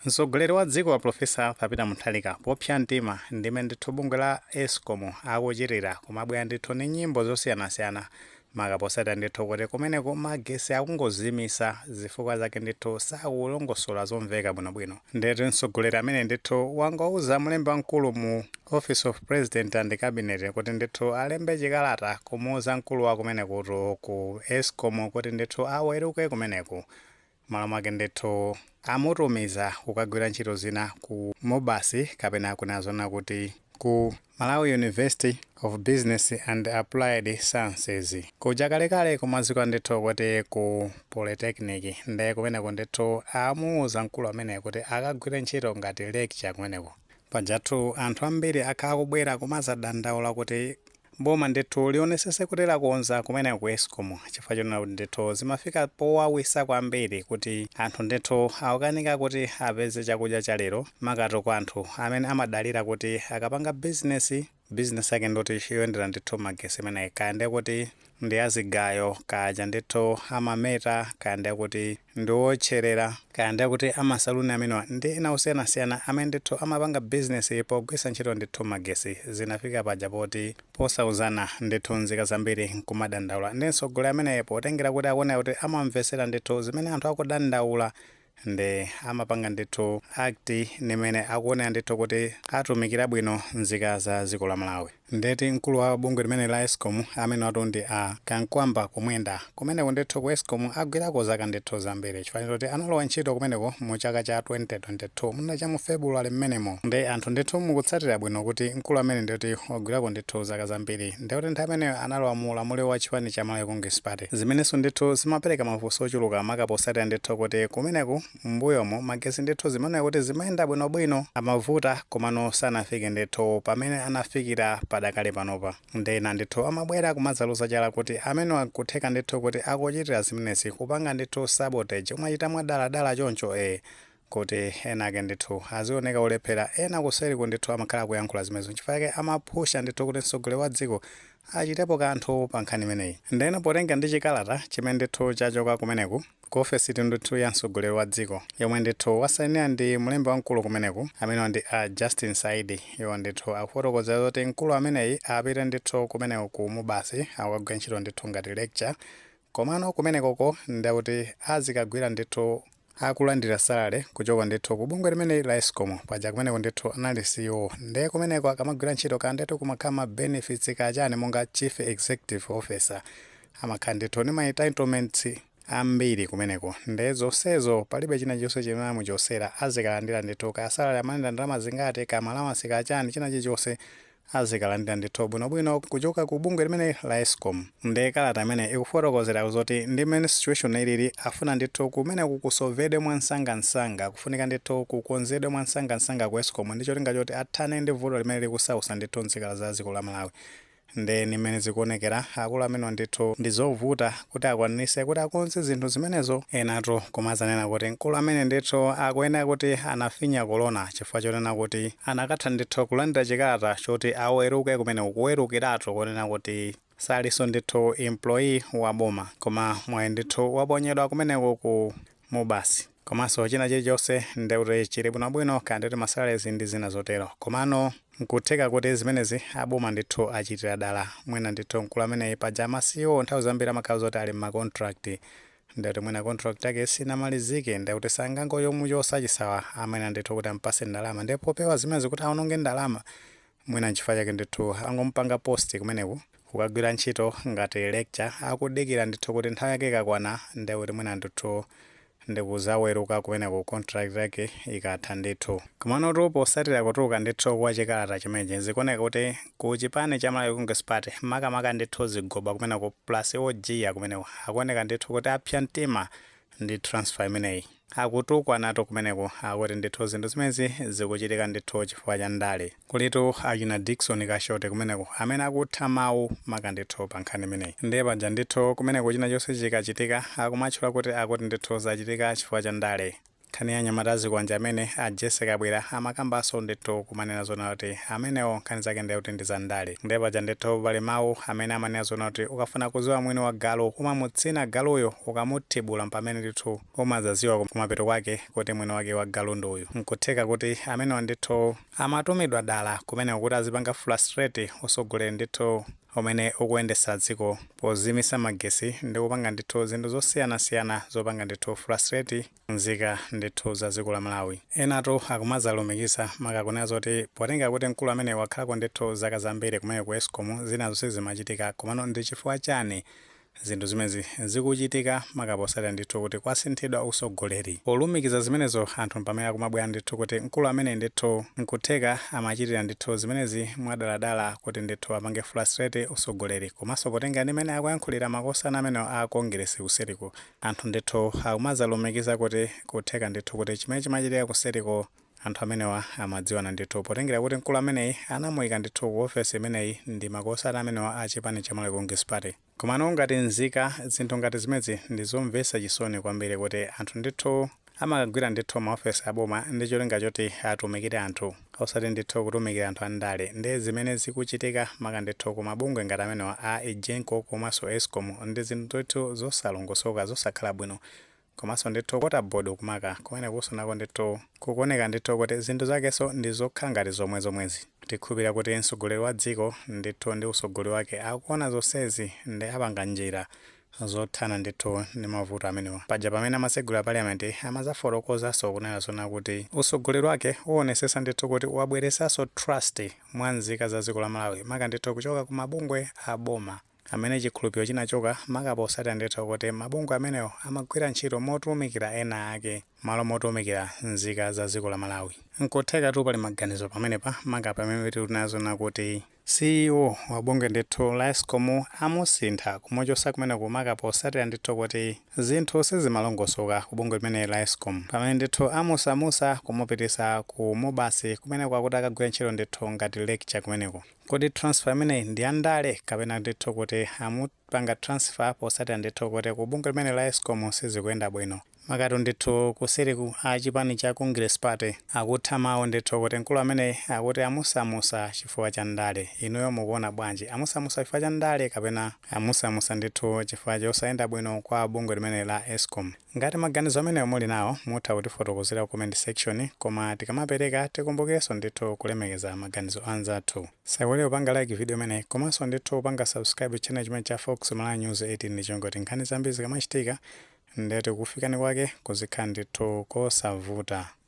Mtsogoleri wa dziko a Professor Arthur Peter Mutharika popsa mtima ndi mmene ndithu bungwe la Escom akuchitira kumabwera ndithu ndi nyimbo zosiyanasiyana maka posatira ndithu kuti kumeneko magesi akungozimisa zifukwa zake ndithu sakulongosola zomveka bwinobwino ndetu mtsogoleri amene ndithu wangowauza mlembi wamkulu mu office of president and cabinet kuti ndithu alembe chikalata kumuuza mkulu wa kumenekutu ku Escom kuti ndithu aweruke kumeneku Malo mwake ndithu amutumiza kukagwira ntchito zina ku Mubas kapena kunena zoona kuti ku Malawi University of Business and Applied Sciences. Kuja kalekale kumadziwika ndithu kuti ku Polytechnic nde kumeneko ndithu amuuza mkulu ameneyo kuti akagwire ntchito ngati lecturer kumeneko. Pajatu anthu ambiri akhala akubwera kumadzadandaula kuti Boma ndithu lionesese kuti lakonza kumeneko ku Escom chifukwa chonena kuti ndithu zimafika powawisa kwambiri kuti anthu ndithu akukanika kuti apeze chakudya cha lero makatu kwa anthu amene amadalira kuti akapanga business business yake ndoti yoyendera ndithu magesi ameneyi kaya ndekuti ndi ya zigayo kaya ndithu amameta kaya ndekuti ndi wootcherera, kaya ndekuti a ma saloon amenewa ndi ena osiyanasiyana amene ndithu amapanga business pogwiritsa ntchito ndithu magetsi, zinafika paja poti posauzana ndithu nzika zambiri nkumadandaula nde mtsogoleri ameneyu potengera kuti akuoneka kuti amamvetsera ndithu zimene anthu akudandaula nde amapanga ndithu act ndi mmene akuonera ndithu kuti atumikira bwino nzika za dziko la Malawi. Ndeti mkulu wa bungwe limeneli la escom amenewatu ndi a Kamkwamba Kumwenda. Kumeneko ndithu ku escom agwirako zaka ndithu zambiri chifukwa choti analowa ntchito kumeneko mu chaka cha 2022 mwina cha mu February mmenemo. Nde anthu ndithu mukutsatira bwino kuti mkulu amene ndi woti wagwirako ndithu zaka zambiri nde kuti nthawi imeneyo analowa mu ulamuliro wa chipani cha Malawi Congress Party. Zimenenso ndithu zimapereka mafunso ochuluka maka potsatira ndithu kuti kumeneku mmbuyomu magesi ndithu zimaoneka kuti zimayenda bwinobwino amavuta komano sanafike ndithu pamene anafikira padakali panopa nde ena ndithu amabwera kumadzaloza chala kuti amenewa nkutheka ndithu kuti akuchitira zimenezi kupanga ndithu sabotage kumachita mwadaladala choncho e kuti ena ake ndithu azioneka olephera ena kuseriku ndithu amakhala akuyankhula zimenezo nchifukwa chake amaphusha ndithu kuti mtsogoleri wa dziko achitepo kanthu pa nkhani imeneyi ndeno potengera ndi chikalata chimene ndithu chachoka kumeneku ku ofesitu ndithu ya mtsogoleri wa dziko yomwe ndithu wasainira ndi mlembi wamkulu kumeneku amenewa ndi a justin saidi iwo ndithu akufotokoza zoti mkulu ameneyi apite ndithu kumeneko ku mubasi akagwire ntchito ndithu ngati lecturer komano kumenekoko ndekuti azikagwira ndithu akulandira salale kuchoka ndithu ku bungwe limeneli la escom paja kumeneko ndithu anali ceo ndiye kumeneko akamagwira ntchito ka ndithu kumakhala ma benefits kachani monga chief executive officer amakhala ndithu ni ma entitlements ambiri kumeneko nde zosezo palibe china chilichonse chimene amuchotsera azikalandira ndithu kaya salary amalandira ndalama zingati kaya ma allowance kaya chani china chilichonse azikalandira ndithu bwinobwino kuchoka ku bungwe limene la escom nde kalata imene ikufotokozera zoti ndi mmene situation ilili afuna ndithu kumeneko kusovedwe mwansangansanga kufunika ndithu kukonzedwe mwansangansanga ku escom ndi cholinga choti athane ndi vuto limene likusausa ndithu mzika za dziko la malawi Nde ni mmene zikuonekera, akulu amenewa ndithu ndi zovuta kuti akwaniritse kuti akonze zinthu zimenezo, enatu kumazanena kuti mkulu amene ndithu akuyenera kuti anafinya kolona chifukwa chonena kuti anakatha ndithu kulandira chikalata choti aweruke kumeneko, kuwerukiratu kunena kuti salinso ndithu employee wa boma koma mwayi ndithu waponyedwa kumeneko ku MUBAS. komanso china chilichonse nde kuti chili bwinobwino kaya ndikuti masalaries ndi zina zotero komano nkutheka kuti zimenezi aboma ndithu achitira dala mwina ndithu mkulu ameneyi paja ma CEO nthawi zambiri amakhala zoti ali mma contract ndekuti mwina contract yake sinamalizike ndekuti sangangomuchotsa chisawa ayenera ndithu kuti ampase ndalama ndipo popewa zimenezi kuti aononge ndalama mwina nchifukwa chake ndithu angomupanga post kumeneku kukagwira ntchito ngati lecturer akudikira ndithu kuti nthawi yake ikakwana nde kuti mwina ndithu ndikuzaweruka kumeneku contract yake ikatha ndithu komanotu potsatira kutuluka ndithu kwa chikalata chimenechi zikuoneka kuti ku chipani cha malawi congress party makamaka ndithu zigoba kumeneku plus ojiya kumeneku akuoneka ndithu kuti apsa mtima ndi transfer imeneyi. Akutukwanatu kumeneku akuti ndithu zinthu zimenezi zikuchitika ndithu chifukwa cha ndale. Kulitu achina Dickson Kashoti kumeneko amene akutha mawu maka ndithu pa nkhani imeneyi. Ndiye paja ndithu kumeneko china chonse chikachitika akumatchula kuti akuti ndithu zachitika chifukwa cha ndale. Nkhani ya anyamata azikwanje amene a Jesse Kabwila amakambanso ndithu kumanena zonena kuti amenewo nkhani zake ndiye kuti ndi za ndale. Ndiye paja ndithu pali mawu amene amanena zonena kuti ukafuna kudziwa mwini wa galu umamutsina galuyo, ukamuthibula mpamene ndithu umadzadziwa kumapeto kwake kuti mwini wake wa galu ndi uyu. N'kutheka kuti amenewa ndithu amatumidwa dala kumeneko kuti azipanga frustrate utsogoleri ndithu umene ukuyendetsa dziko podzimitsa magetsi ndi kupanga ndithu zinthu zosiyanasiyana zopanga ndithu frustrate Nzika ndithu za dziko la Malawi. Enatu akumadzalumikiza maka kunena zoti potenga kuti mkulu ameneyi wakhalako ndithu zaka zambiri kumeneko ku Escom zinazo sizimachitika komano ndichifukwa chani zinthu zimenezi zikuchitika maka potsatira ndithu kuti kwasinthidwa utsogoleri. Polumikiza zimenezo anthu mpamene akumabwera ndithu kuti mkulu ameneyi ndithu nkutheka amachitira ndithu zimenezi mwadaladala kuti ndithu apange frustrate utsogoleri komanso potenga ndi mmene akuyankhulira makosana amenewa a Kongeresi kuseliku Anthu ndithu akumadzalumikiza kuti kutheka ndithu kuti chimene chimachitika kuseriko anthu amenewa amadziwana ndithu potengera kuti mkulu ameneyi anamuyika ndithu ku ofesi imeneyi ndi makosana amenewa a chipani cha Malawi Congress Party. Komano ngati nzika zinthu ngati zimenezi ndizomvesa chisoni kwambiri kuti anthu ndithu amakagwira ndithu ma office a boma ndi cholinga choti atumikire anthu osati ndithu kutumikira anthu a ndale nde zimene zikuchitika maka ndithu ku mabungwe ngati amenewa a egenco komaso escom ndi zinthu ndithu zosalongosoka zosakhala bwino komaso ndithu water board kumakako kumenekuso nako ndithu kukuoneka ndithu kuti zinthu zakeso ndi zokhala ngati zomwe zomwezi tikhulupilira kuti mtsogoleri wa dziko ndithu ndi utsogoleri wake akuona zonsezi nde apanga njira zothana ndithu ndi mavuto amenewa. Paja pamene amatsegula parliament amadzafotokozanso kunena zoona kuti utsogoleri wake uwonesetsa ndithu kuti wabweretsanso trust mwa nzika za dziko la Malawi maka ndithu kuchoka ku mabungwe a boma amene chikhulupiliro chinachoka maka potsatira ndithu kuti mabungwe amenewo amagwira ntchito motumikira ena ake malo motumikira nzika za dziko la Malawi. Nkuthekatu pali maganizo pamenepa maka pamene tili kunena zoona kuti CEO wa bungwe ndithu la escom amusintha kumuchosa kumeneku maka posatira ndithu kuti zinthu sizimalongosoka ku bungwe limeneli la escom pamene ndithu amusamusa kumupitisa ku MUBAS kumeneko akuti akagwire ntchito ndithu ngati lecturer kumeneko kodi transfer imeneyi ndi ya ndale kapena ndithu kuti amupanga transfer posatira ndithu kuti ku bungwe limeneli la escom sizikuyenda bwino Makatu ndithu kuseriku a chipani cha Congress Party akutha mau ndithu kuti mkulu ameneyi akuti amusamusa chifukwa cha ndale. Inuyo mukuona bwanji? Amusamusa chifukwa cha ndale kapena amusamusa ndithu chifukwa chosayenda bwino kwa bungwe limeneli la escom? Ngati maganizo amenewo muli nawo mutha kutifotokozera ku comment section koma tikamapereka tikumbukirenso ndithu kulemekeza maganizo a anzathu. Musaiwale kupanga like video imeneyi komanso ndithu kupanga subscribe channel chimenechi cha Fox Malawi News 18 ndi cholinga choti nkhani zambiri zikamachitika nde kukufikani kwake kuzikhala ndithu kosavuta.